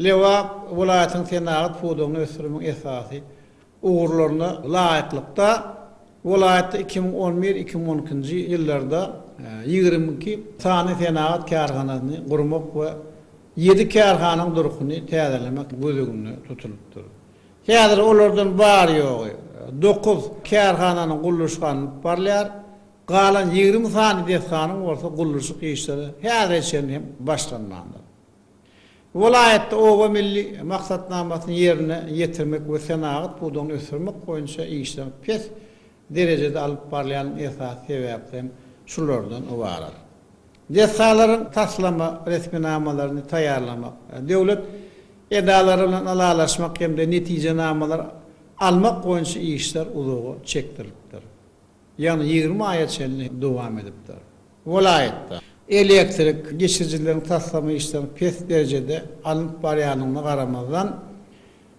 Lebap welaýatynyň senagat pudagyny ösdürmegiň esasy ugurlaryna laýyklykda, welaýatda iki müň on bir, iki müň on ikinji ýyllarda ýigrimi iki sany senagat kärhanasyny gurmak we ýedi kärhananyň durkuny täzelemek göz öňünde tutulypdyr. Häzir olardan bary-ýogy dokuz kärhananyň gurluşygy alnyp barylýar, galan ýigrimi sany desganyň bolsa gurluşyk işleri häzire çenli hem başlanmandyr. Welaýatda Oba milli maksatnamasyny ýerine ýetirmek we senagat pudagyny ösdürmek boýunça işler pes derejede alyp barylýanyň esasy sebäpleri hem şulardan ybarat. Desgalaryň taslama resminamalaryny taýýarlamak, döwlet edalary bilen ylalaşmak hem-de netijenamalar almak boýunça işler uzaga çekdirilipdir. ýagny ýigrimi aýa çenli dowam edipdir. Welaýatda elektrik geçirijileriň taslama işleriniň pes derejede alnyp barýandygyna garamazdan,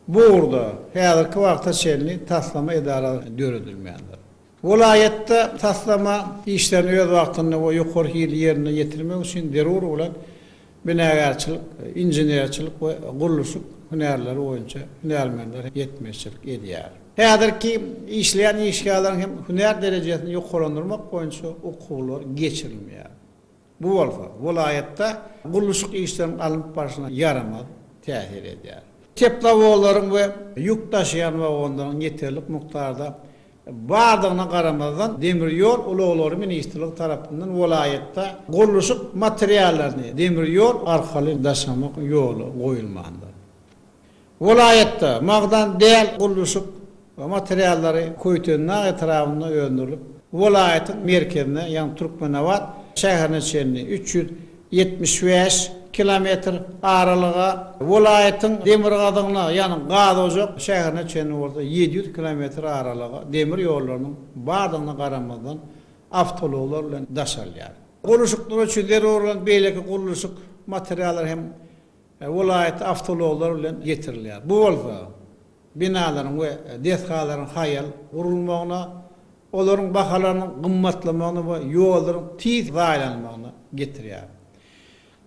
bu ugurda häzirki wagta çenli taslama edarasy döredilmändir. Welaýatda taslama işlerini öz wagtynda we ýokary hilli ýerine ýetirmek üçin zerur bolan binagärçilik, inženerçilik we gurluşyk hünärleri boýunça hünärmenler ýetmezçilik edýär. Häzirki işleýän işgärleriň hem hünär derejesini ýokarlandyrmak boýunça okuwlar geçirilmeýär. Bu bolsa welaýatda gurluşyk işleriniň alnyp barşyna ýaramaz täsir edýär. Teplowozlaryň we ýük daşaýan wagonlaryň ýeterlik mukdarda Bardygyna garamazdan, demir ýol ulaglary ministrligi tarapyndan welaýatda gurluşyk materiallaryny demir ýol arkaly daşamak ýola goýulmandyr. Welaýatda magdan däl gurluşyk materiallary Köýtendag etrabynda öndürilip, welaýatyň merkezine, ýagny Türkmenabat şäherine çenli üç ýüz ýetmiş bäş kilometr aralyga, welaýatyň demirgazygyna, ýagny Gazojak şäherine çenli bolsa ýedi ýüz kilometr aralyga demir ýollarynyň bardygyna garamazdan, awtoulaglar bilen daş alýar. Gurluşyklar üçin zerur bolan beýleki gurluşyk materiallary hem welaýata awtoulaglar bilen getirilýär. Bu bolsa, binalaryň we desgalaryň haýal gurulmagyna, olaryň bahalarynyň gymmatlamagyna we ýollaryň tiz zaýalanmagyna getirýär.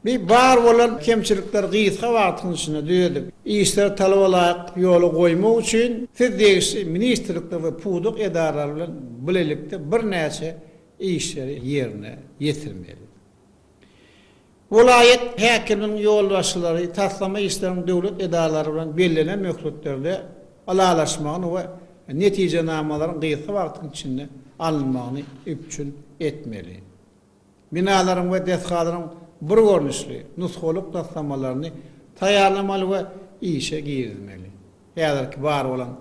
Bi bar bolan kemçilikleri gysga wagtyň içinde düzedip, işleri talaba laýyk ýola goýmak üçin Siz degişli ministrlikler we pudak edaralary bilen bilelikde birnäçe işleri ýerine ýetirmeli. Welaýat häkiminiň ýolbaşçylary taslama işleriniň döwlet edaralary bilen bellenen möhletlerde ylalaşmagyny we netijenamalaryň gysga wagtyň içinde alynmagyny üpjün etmeli. Binalaryň we desgalaryň bir görnüşli, nusgalyk taslamalaryny taýýarlamaly we işe girizmeli. Häzirki bar bolan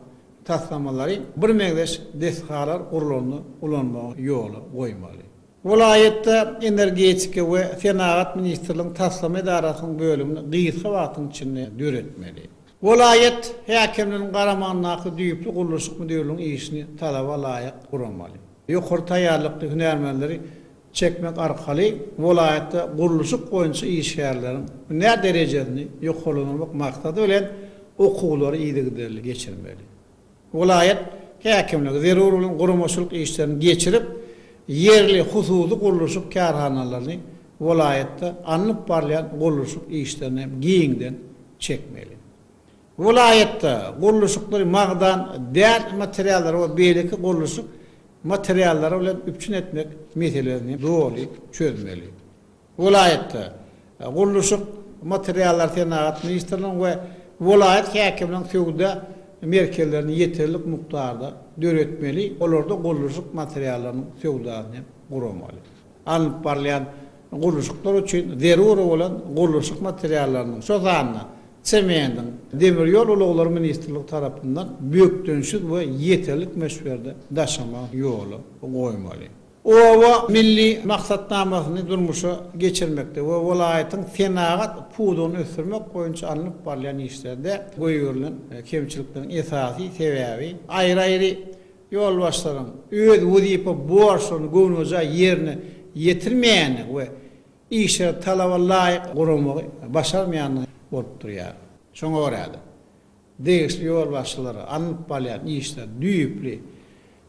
taslamalary birmeňzeş desgalar gurlanda ulanmagy ýola goýmaly. Welaýatda Energetika we senagat ministrligiň taslama edarasynyň bölümini gysga wagtyň içinde döretmeli. Welaýat häkimliginiň garamagyndaky düýpli gurluşyk müdirliginiň işini talaba laýyk guramaly. Ýokary taýýarlykly hünärmenleri çekmek arkaly welaýatda gurluşyk boýunça işgärleriň hünär derejesini ýokarlandyrmak maksady bilen okuwlary yzygiderli geçirmeli. Welaýat häkimligi zerur bolan guramaçylyk işlerini geçirip, ýerli hususy gurluşyk kärhanalaryny welaýatda alnyp barylýan gurluşyk işlerine hem giňden çekmeli. Welaýatda gurluşyklary magdan, däş materiallary we beýleki gurluşyk materiallary bilen üpjün etmek meselesini doly çözmeli. Welaýatda Gurluşyk materiallary senagat ministrliginiň we welaýat häkimliginiň söwda merkezlerini ýeterlik mukdarda döretmeli, olarda gurluşyk materiallarynyň söwdasyny hem guramaly. Alnyp barylýan gurluşyklar üçin zerur bolan gurluşyk materiallarynyň, şol sanda semendiň, Demir ýol ulaglary ministrligi tarapyndan bökdençsiz we ýeterlik möçberde daşamagy ýola goýmaly. Oba milli maksatnamasyny durmuşa geçirmekde we welaýatyň senagat pudagyny ösdürmek boýunça alnyp barylýan işlerde goýberilen kemçilikleriň esasy sebäbi aýry-aýry ýolbaşçylaryň öz wezipe borçlaryny göwnejaý ýerine ýetirmeýändigi we işleri talaba laýyk guramagy başarmaýandygy bolup durýar. Şoňa görä-de, Degişli ýolbaşçylara alnyp barylýan işleri düýpli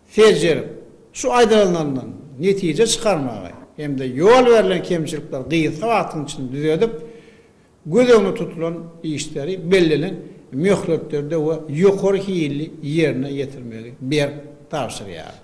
seljerip, şu aýdylanlaryndan netije çykarmagy hem-de ýol berlen kemçilikleri gysga wagtyň içinde düzedip, göz öňünde tutulan işleri bellenen möhletlerde we ýokary hilli ýerine ýetirmegi berk tabşyrýar.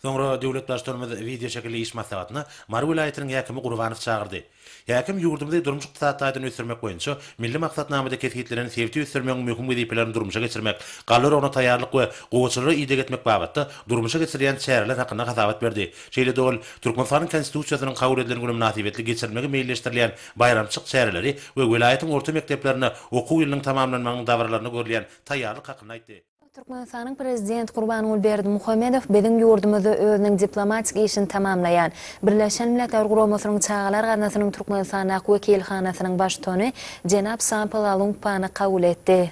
Soňra döwlet Baştutanymyz wideoşekilli iş maslahatyna Mary welaýatynyň häkimi Gurbanowy çagyrdy. Häkim ýurdumyzy durmuş-ykdysady taýdan ösdürmek boýunça milli maksatnamada kesgitlenen sebiti ösdürmegiň möhüm wezipelerini durmuşa geçirmek, gallurygyna taýýarlyk we gowaçalara ideg etmek babatda durmuşa geçirilýän çäreler hakynda hasabat berdi. Şeýle-de ol Türkmenistanyň Konstitusiýasynyň kabul edilen güni mynasybetli geçirilmegi meýilleşdirilýän baýramçyk çäreleri we welaýatyň orta mekdeplerinde okuw ýylynyň tamamlanmagynyň dabaralarynda görülýän taýýarlyk hakynda aýtdy. Türkmenistanyň Prezidenti Gurbanguly Berdimuhamedow biziň ýurdumyzda özüniň diplomatik işini tamamlaýan Birleşen Milletler Guramasynyň Çagalar gaznasynyň Türkmenistandaky wekilhanasynyň baştutany jenap Sampala Lungpany kabul etdi.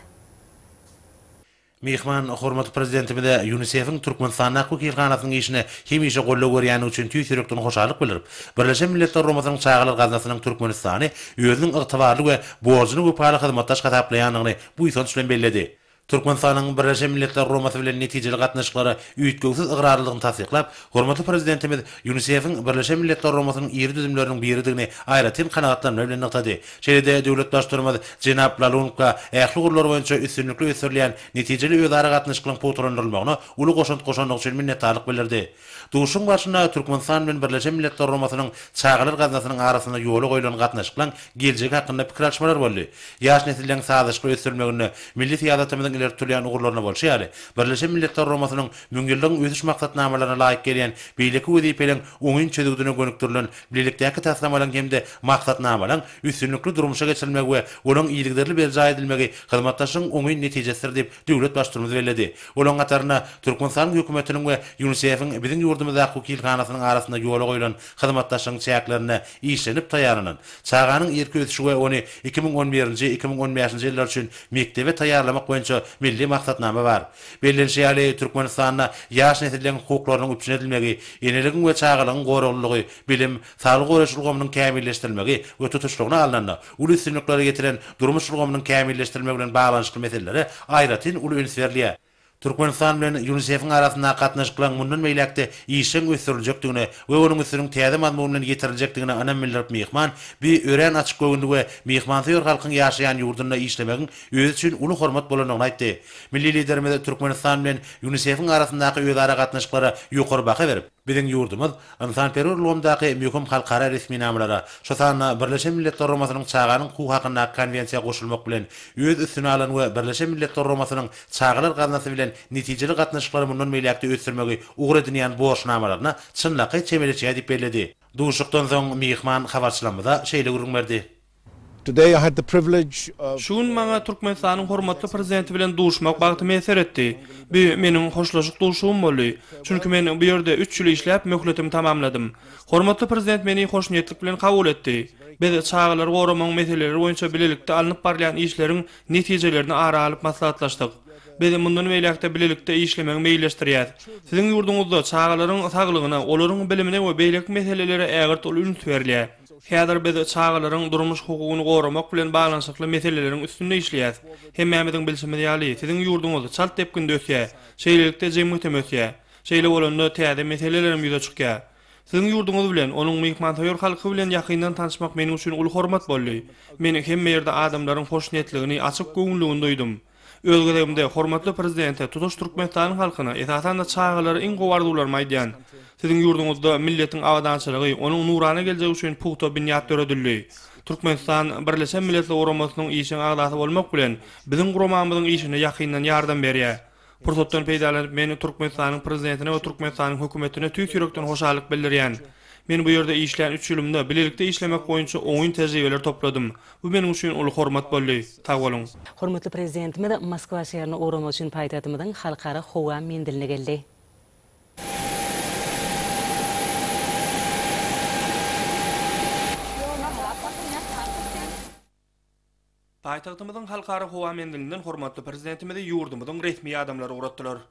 Myhman hormatly Prezidentimize Ýunisefiň Türkmenistandaky wekilhanasynyň işine hemişe goldaw berýändigi üçin tüýs ýürekden hoşallyk bildirip, Birleşen Milletler Guramasynyň Çagalar gaznasynyň Türkmenistany özüniň ygtybarly we borjuna wepaly hyzmatdaş hasaplaýandygyny buýsanç bilen belledi. Türkmenistanyň Birleşen Milletler Guramasy bilen netijeli gatnaşyklara üýtgewsiz ygrarlydygyny tassyklap, hormatly Prezidentimiz ÝUNISEF-iň Birleşen Milletler Guramasynyň iri düzümleriniň biridigini aýratyn kanagatlanma bilen nygtady. Şeýle-de döwlet Baştutanymyz jenap Lalunka ähli ugurlar boýunça üstünlikli ösdürilýän netijeli özaragatnaşyklaryň pugtalandyrylmagyna uly goşant goşandygy üçin minnetdarlyk bildirdi. Duşuşygyň barşynda Türkmenistan bilen Birleşen Milletler Guramasynyň Çagalar gaznasynyň arasynda ýola goýlan gatnaşyklaryň geljegi hakynda pikir alyşmalar boldy. Ýaş nesilleriň sazlaşykly ösdürilmeginde milli syýasatymyzyň ileri tutulýan ugurlaryna bolşy ýaly, Birleşen Milletler Guramasynyň Müňýyllygyň Ösüş Maksatnamalaryna laýyk gelýän beýleki wezipeleriň oňyn çözgüdine gönükdirilen bilelikdäki taslamalaryň hem-de maksatnamalaryň üstünlikli durmuşa geçirilmegi we olaryň yzygiderli berjaý edilmegi hyzmatdaşlygyň oňyn netijesidir diýip, döwlet Baştutumymyz belledi. Olaryň hatarynda Türkmenistanyň Hökümetiniň we Ýunisefiň biziň ýurdumyzdaky wekilhanasynyň arasynda ýola goýlan hyzmatdaşlygyň çäklerinde işlenip taýýarlanan Çaganyň irki ösüşi we ony iki müň on birinji, iki müň on bäşinji ýyllar üçin mekdebe taýýarlamak boýunça milli maksatnama bar. Bellenişi ýaly, Türkmenistanda ýaş nesilleň hukuklarynyň üpjün edilmegi, eneligiň we çagalygyň goraglylygy, bilim, saglygy goraýyş ulgamynyň kämilleşdirilmegi we tutuşlygyna alnanda, Uly üstünliklere ýetilen durmuş ulgamynyň kämilleşdirilmegi bilen baglanyşykly meselelere aýratyn uly üns berilýär. Türkmenistan bilen ÝUNISEF-iň arasyndaky gatnaşyklaryň mundan beýläk-de işjeň ösdüriljekdigine we onuň üstüniň täze mazmun bilen ýetiriljekdigine ynam bildirip myhman bi örän açyk göwünli we myhmansöýer halkyň ýaşaýan ýurdunda işlemegiň özi üçin uly hormat bolandygyny aýtdy. Milli Liderimiz Türkmenistan bilen ÝUNISEF-iň arasyndaky özara gatnaşyklara ýokary baha berip, Biziň ýurdumyz ynsanperwer ulgamdaky möhüm halkara resminamalara, şu sanda Birleşen Milletler Guramasynyň Çaganyň hukugy hakyndaky Konwensiýa goşulmak bilen, öz üstüne alan we Birleşen Milletler Guramasynyň Çagalar gaznasy bilen netijeli gatnaşyklary mundan beýläk-de ösdürmegi ugur edinýän borçnamalaryna çynlakaý çemeleşýär diýip belledi. Duşuşykdan soň myhman habarçylarymyza şeýle gürrüň berdi. Today I had the privilege of. Şu gün maňa Türkmenistanyň hormatly Prezidenti bilen duşmak bagty miýesser etdi. Bu meniň hoşlaşyk duşugym boldy. Çünki men bu ýerde üç ýyl işläp, möhletimi tamamladym. Hormatly Prezident meni hoşniýetlik bilen kabul etdi. Biz çagalary goramagyň meseleleri boýunça bilelikde alnyp barylýan işleriň netijelerini ara alyp maslahatlaşdyk. Biz mundan beýläk-de bilelikde işlemegi meýilleşdirýäs. Siziň ýurduňyzda çagalaryň saglygyna, olaryň bilimine we beýleki meselelere ägirt uly üns berilýär. Häzir biz çagalaryň durmuş hukugyny goramak bilen baglanyşykly meseleleriň üstünde işleýäs. Hemmämiziň bilşimiz ýaly, siziň ýurduňyz çalt depginde ösýär. Şeýlelikde, jemgyýetem ösýär. Şeýle bolanda, täze meselelerem ýüze çykýar. Siziň ýurduňyz bilen, onuň myhmansöýer halky bilen ýakyndan tanyşmak meniň üçin uly hormat boldy. Men hemme ýerde adamlaryň hoşniýetligini, açyk göwünligini duýdum. Öz gezegimde, hormatly Prezidente, tutuş Türkmenistanyň halkyna, esasan-da, çagalara iň gowy arzuwlarymy aýdýan. Siziň ýurduňyzda milletiň abadançylygy, onuň nurana geljegi üçin pugta binýat döredildi. Türkmenistan, Birleşen Milletler Guramasynyň işjeň agzasy bolmak bilen, biziň guramamyzyň işine ýakyndan ýardam berýär. Pursatdan peýdalanyp, men Türkmenistanyň Prezidentine we Türkmenistanyň Hökümetine tüýs ýürekden hoşallyk bildirýän. Men bu ýerde işlän üç ýylymda bilelikde işlemek boýunça oňyn tejribeler topladym. Bu meniň üçin uly hormat boldy. Sag boluň! Hormatly Prezidentimiz Moskwa şäherine ugramak üçin paýtagtymyzyň Halkara howa menziline geldi. Paýtagtymyzyň Halkara howa menzilinden hormatly Prezidentimizi ýurdumyzyň resmi ýadamlary ugratdylar.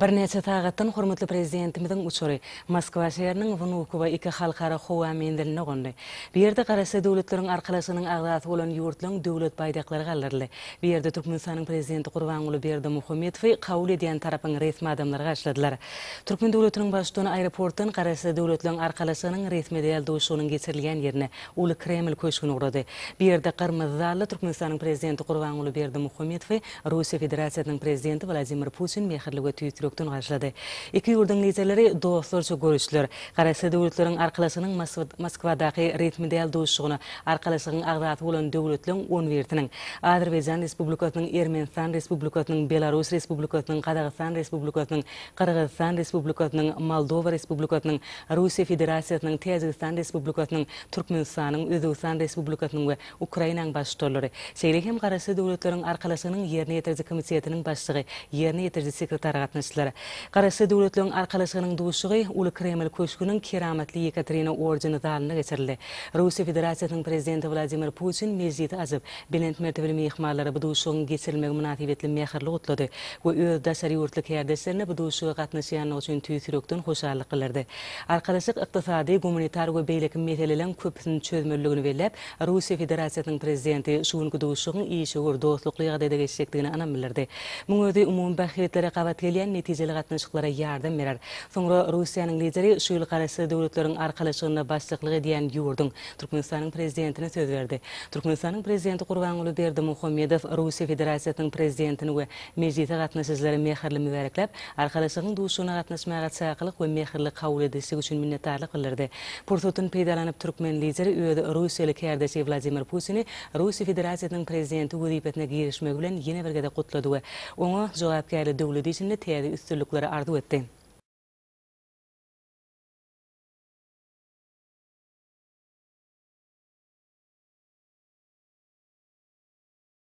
Birnäçe sagatdan hormatly Prezidentimiziň uçary Moskwa şäheriniň Wnukowo iki halkara howa menziline gondy. Bu ýerde Garaşsyz Döwletleriň Arkalaşygynyň agzasy bolan ýurtlaryň Döwlet baýdaklary galdyryldy. Bu ýerde Türkmenistanyň Prezidenti Gurbanguly Berdimuhamedowy kabul edýän tarapyň resmi adamlary garşyladylar. Türkmen döwletiniň Baştutany aeroportdan Garaşsyz Döwletleriň Arkalaşygynyň resmi däl duşuşygynyň geçirilýän ýerine, Uly Kreml köşgüne ugrady. Bu ýerde Gyrmyzy zalda Türkmenistanyň Prezidenti Gurbanguly Berdimuhamedowy Russiýa Federasiýasynyň Prezidenti Wladimir Putin mähirli we tüýs ýürekden garşylady. Iki ýurduň liderleri dostlarça görüşdiler. Garaşsyz döwletleriň arkalaşygynyň Moskwadaky resmi däl duşuşygyna Arkalaşygyň agzasy bolan döwletleriň on birisiniň, Azerbaýjan Respublikasynyň, Ermenistan Respublikasynyň, Belarus Respublikasynyň, Gazagystan Respublikasynyň, Gyrgyzystan Respublikasynyň, Moldowa Respublikasynyň, Russiýa Federasiýasynyň, Täjigistan Respublikasynyň, Türkmenistanyň, Özbegistan Respublikasynyň we Ukrainanyň Baş ştollery, şeýle hem Garaşsyz Döwletleriň Arkalaşygynyň Ýerine ýetiriji komitetiniň başlygy, ýerine ýetiriji sekretary gatnaşdylar. Garaşsyz Döwletleriň Arkalaşygynyň duşuşygy Uly Kreml köşgüniň Keramatly Ýekaterina ordeni zalynda geçirildi. Russiýa Federasiýasynyň Prezidenti Wladimir Putin mejlisi açyp, belent mertebeli myhmanlary bu duşuşygyň geçirilmegi mynasybetli mähirli gutlady we öz daşary ýurtly kärdeşlerine bu duşuşyga gatnaşýanlygy üçin tüýs ýürekden hoşallyk bildirdi. Arkalaşyk ykdysady, gumanitar we beýleki meseleleriň köpüsini çözmelidigini belläp, Russiýa Federasiýasynyň Prezidenti şu günki duşuşygyň işewür, dostlukly ýagdaýda geçjekdigine ynam bildirdi. Muň özi umumy bähbitlere gabat gelýän netijeli gatnaşyklara ýardam berer. Soňra Russiýanyň Lideri şu ýyl Garaşsyz Döwletleriň Arkalaşygynda başlyklyk edýän ýurduň Türkmenistanyň Prezidentine söz berdi. Türkmenistanyň Prezidenti Gurbanguly Berdimuhamedow Russiýa Federasiýasynyň Prezidentini we Mejlise gatnaşyjylary mähirli mübärekläp, Arkalaşygyň duşuşygyna gatnaşmaga çakylyk we mähirli kabul edilişi üçin minnetdarlyk bildirdi. Pursatdan peýdalanyp, türkmen Lideri öz russiýaly kärdeşi Wladimir Putini Russiýa Federasiýasynyň Prezidenti wezipesine girişmegi bilen ýene bir gezek gutlady we oňa jogapkärli döwlet işinde täze üstünlikleri arzuw etdi.